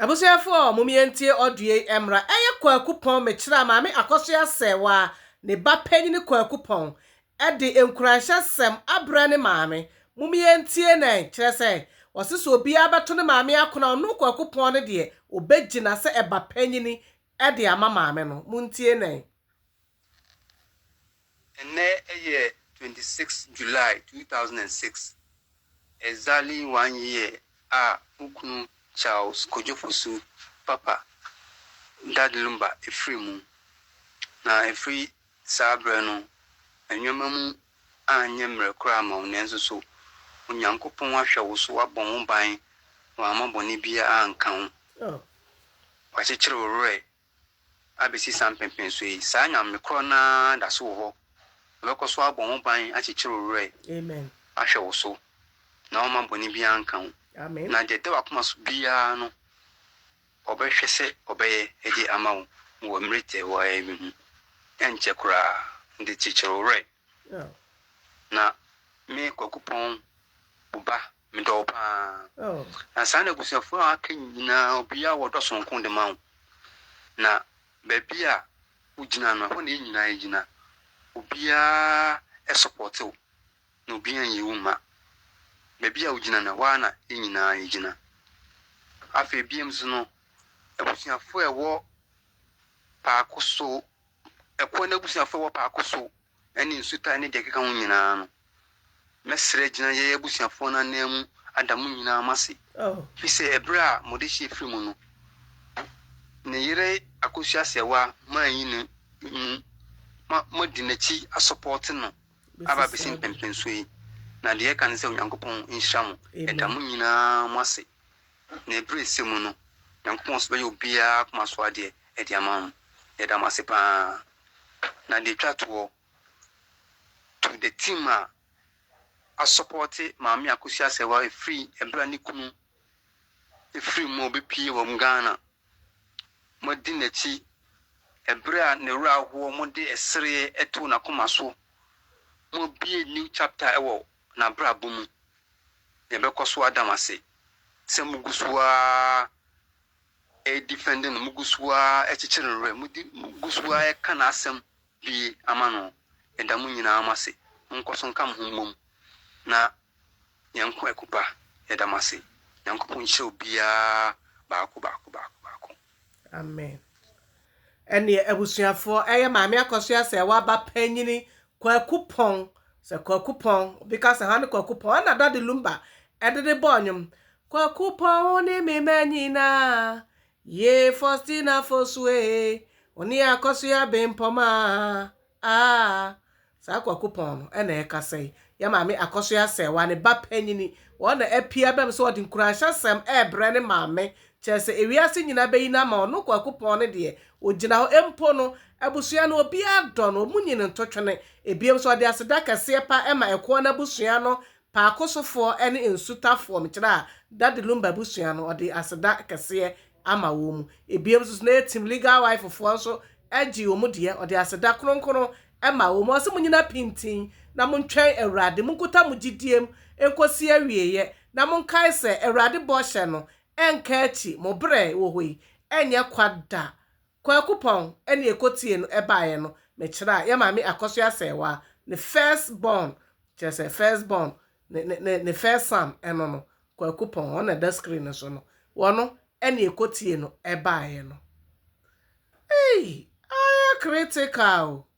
Abusuafoɔ mom yɛntie audio yi ɛmmra. Ɛyɛ Kwaku Pɔn mekyerɛ a Maame Akɔsoa sɛɛ waa ne ba panyini Kwaku Pɔn de nkuranhyɛ sɛm abrɛ ne maame. Mom yɛntie nɛɛ kyerɛ sɛ ɔse sɛ obiara bɛto ne maame akon a ɔno Kwaku Pɔn no deɛ ɔbɛgyina sɛ ɛba panyini de ama maame no. Montie nɛɛ. Ɛnnɛ yɛ twenty six July two thousand and six, exactly one year a wo kunu Charles Kojo Fosu papa Dad Lumba firii mu. Na ɛfiri saa berɛ no, nneɛma mu anyɛ mmerɛ koraa amma wo, nanso so Onyankopɔn ahwɛ wo so, wabɔ ho ban, wamma bɔne biara anka wo, wakyekyere wo werɛ Abɛsi saa mpɛnpɛnsoɔ yi, saa Nyame korɔ no ara da so wɔ hɔ. Ɔbɛkɔ so abɔ ho ban, akyekyere wo werɛ, ahwɛ wo so, na ɔremma bɔne biara nka wo. Na deɛ ɛda w'akoma so biara no, Ɔbɛhwɛ sɛ Ɔbɛyɛ de ama wo wɔ mmerɛ tiawaa yi mu. Ɛnkyɛ koraa, de kyekyere wo werɛ. Na me, Kwaku Pɔn, wo ba, Medɔ wo paa. Na saa na abusuafoɔ a aka nyinaa obiara wɔ dɔ sononko de ma wo. Na baabi a wogyina no, ɛhɔ na yɛn nyinaa gyina. Obiara sɔpɔɔte wo, na obiara nyi wo mma. Baabi a wogyina no, ɛhɔ ara na yɛn nyinaa yɛgyina. Afei bio nso no, abusuafoɔ a ɛwɔ Paako so, ɛkoɔ no abusuafoɔ a ɛwɔ Paako so ɛne nsu tae ne deɛ ɛkeka ho nyinaa no, mɛsrɛ agyina yɛn abusuafoɔ no ananmu ada mo nyinaa mo ase, ɛfiri sɛ ɛberɛ a mode hyeɛ firii mu no, ne yere akɔsua aseɛwa ma anyi ne mu, ma moadi n'akyi asɔpɔɔte no aba abɛsi mpɛnpɛnsoɔ yi, na deɛ ɛka ne sɛ Onyankopɔn nhyira mo, ɛda mo nyinaa mo ase, Na bere a ɛsɛ mu no, Nyankopɔn nso bɛyɛ obiara koma so adeɛ de ama mo. Yɛda mo ase pa ara. Na deɛ ɛtwa toɔ, to the team a asɔpɔɔte Maame Akosua Asɛwa firi ɛberɛ a ne kunu firii mu a ɔbɛpue wɔ Ghana, moadi n'akyi ɛberɛ a ne werɛ ahoɔ, mode sereɛ too n'akoma so, moabue new chapter wɔ n'abrabɔ mu na ɛbɛkɔ so ada mo ase sɛ mogu so ara redefɛnde no, mogu so ara rekyekyere no werɛ, mogu so ara reka n'asɛm bue ama no. Yɛda mo nyinaa mo ase. Monkɔ so nka mo ho mmom na yɛn nko akupa. Yɛda mo ase. Nyankopɔn nhyira obiara baako baako baako baako. Amen. Ɛneɛ abusuafoɔ, ɛyɛ Maame Akɔsoa sɛ waba panyini Kwaku Pɔn, sɛ Kwaku Pɔn, obi ka sɛ hwane Kwaku Pɔn, ɛna Daddy Lumba ɛde de bɔɔ nnwom. Kwaku Pɔn wo ne me ma nyinaa, yee Faustina Fosu ee, wo ne Akɔsoa Bempɔmaa, Aah saa kwaku pɔn no ɛna ɛkasa yi, yɛ maame Akɔso Asɛɛwa ne ba panyini wɔn na apue abam sɛ ɔde nkuranhyɛsɛm ɛɛbrɛ ne maame, kyerɛ sɛ ewiase nyinaa bɛyi no ama ɔno kwaku pɔn no deɛ ɔgyina hɔ mpo no abusua no obiara dɔ no ɔmo nyi no ntotwene, ebiem nso ɔde aseda kɛseɛ paa ɛma ɛkoɔ no abusua no paakosofoɔ ɛne nsutafoɔ, mekyerɛ a Daddy Lumba abusua no ɔde aseda kɛseɛ ama wɔn mu. Ebiem nso na yɛ team legal wife foɔ nso gye wɔn deɛ, ɔde aseda kronkron ma wɔn. Ɔse mo nyina pintin na mo ntwɛn Awurade, mo nkuta mo gyidie mu nkɔsi awieɛ, na mo nkae sɛ Awurade bɔhyɛ no nka akyi, mo berɛ wɔ hɔ yi nyɛ kwa da. Kwaku Pɔn ne ɛkɔtie no baeɛ no, mekyerɛ a yɛ maame Akɔsoɛ Asɛɛwaa ne first born, kyerɛ sɛ first born ne ne ne ne first son ɛno no Kwaku Pɔn ɔna ɛda screen no so no wɔno ɛna ɛkɔtie no ɛbaeɛ no ei ayɛ critical o.